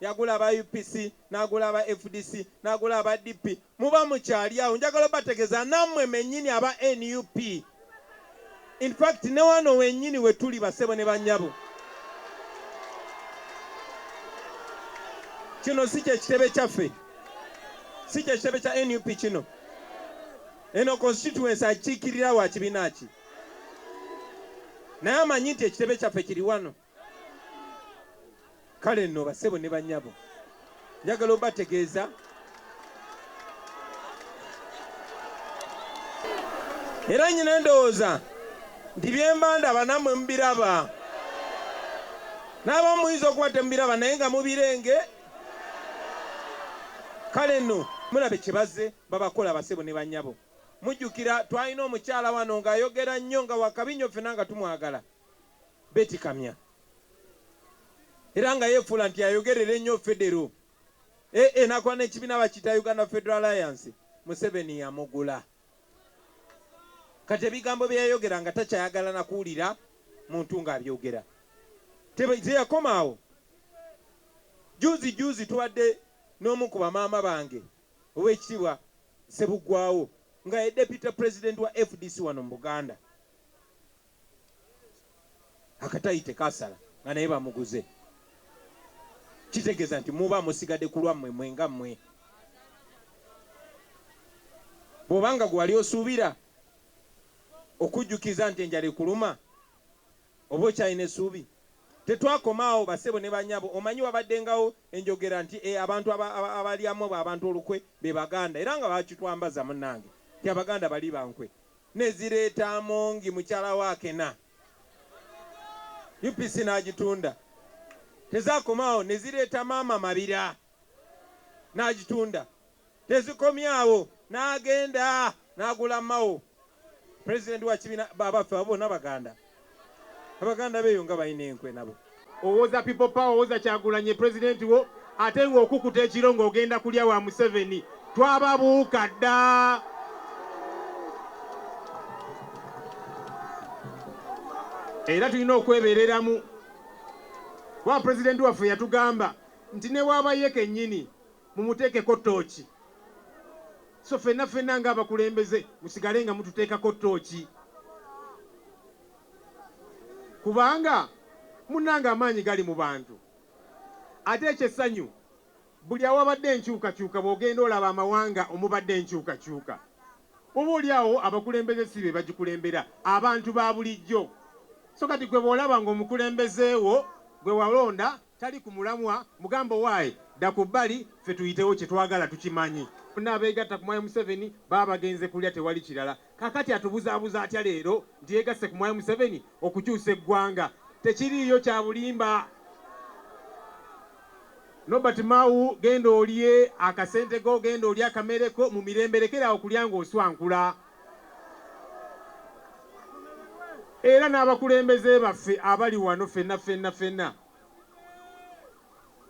Yagula aba UPC, nagula aba fdc, nagula aba DP. Muba mukyali awo. Njagala obategeza namwe menyini aba nup. In fact newano wenyini wetuli basebo ne banyabo. Kino si kye kitebe kyaffe. Si kye kitebe kya nup kino. Eno constituency akikirira wa kibina ki? Naye amanyi nti ekitebe kyaffe kiri wano. kale nno bassebo ne bannyabo njagala obategeeza era nyina endowooza nti byemba ndaba namwe mubiraba naaba muyinza okuba temubiraba naye nga mubirenge kale nno mulabe kyebaze babakola basebo ne banyabo mujjukira twalina omukyala wano ng'ayogera nnyo nga wakabinyo ffena nga tumwagala Beti Kamya era nga yefuula nti yayogerera ennyo Federo eeh nakola nekibiina bakiyita Uganda Federal Alliance Museveni yamugula kati ebigambo byeyayogera nga takyayagala nakuwulira muntu nga abyogera teyakoma awo juuzi juuzi tubadde nomu ku bamaama bange owekitibwa Sebugwawo nga ye deputy president wa fdc wano mu Buganda akatayi tekasala nga naye bamuguze kitegeza nti muba musigade kulwa mwe mwe nga mwe bwobanga gwewali osuubira okujjukiza nti enjala ekuluma oba okyalina esuubi tetwakomaawo basebo ne banyabo omanyi wabaddengawo enjogera nti e, abantu abalyamu abantu olukwe be baganda era nga bakitwambaza munange nti abaganda bali bankwe ne zireeta Amongi mukyala we Akena, UPC n'agitunda. Tezaakoma awo ne zireeta maama Mabira n'agitunda. Tezikomye awo n'agenda n'agula Mao, pulezidenti wa kibiina, abaffe abo bonna Baganda? Abaganda beeyo nga balina enkwe nabo. Owoza people power owoza kyagulanyi ye president wo ate nga okukuta ekiro nga ogenda kulya wa museveni twababuuka ddaa. Era tulina okwebereramu kuba president waffe yatugamba nti newaba ye kenyini Mumuteekeko ttooci. So ffenna ffenna ng'abakulembeze musigale nga mututeekako ttooci kubanga munnange amaanyi gali mu bantu. Ate eky'essanyu buli awabadde enkyukakyuka bw'ogenda olaba amawanga omubadde enkyukakyuka oba oli awo abakulembeze si be bagikulembera, abantu ba bulijjo. So kati ggwe bw'olaba ng'omukulembeze wo gwe walonda Tali ku mulamwa mugambe owaaye dda ku bbali ffe tuyitewo kyetwagala tukimanyi. Bonna abeegatta ku Mwami Museveni baba bagenze kulya tewali kirala. Kaakati atubuzaabuza atya leero nti yeegasse ku Mwami Museveni okukyusa eggwanga? Tekiriiyo kya bulimba. Nobert Mao genda olye akasente ko, genda olye akamere ko mu mirembe lekera awo kulya ng'oswankula. era n'abakulembeze baffe abali wano ffenna ffenna ffenna.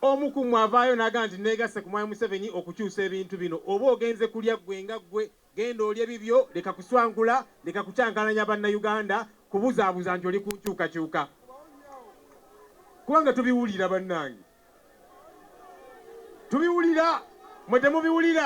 Omu ku mmwe avaayo n'agamba nti, Nneegasse ku Mwami Museveni okukyusa ebintu bino. Oba ogenze kulya ggwe nga ggwe, genda olye bibyo, leka kuswankula, leka kucankalanya Bannayuganda, kubuzaabuza nti oli ku nkyukakyuka. Kubanga tubiwulira bannange. Tubiwulira, mmwe temubiwulira?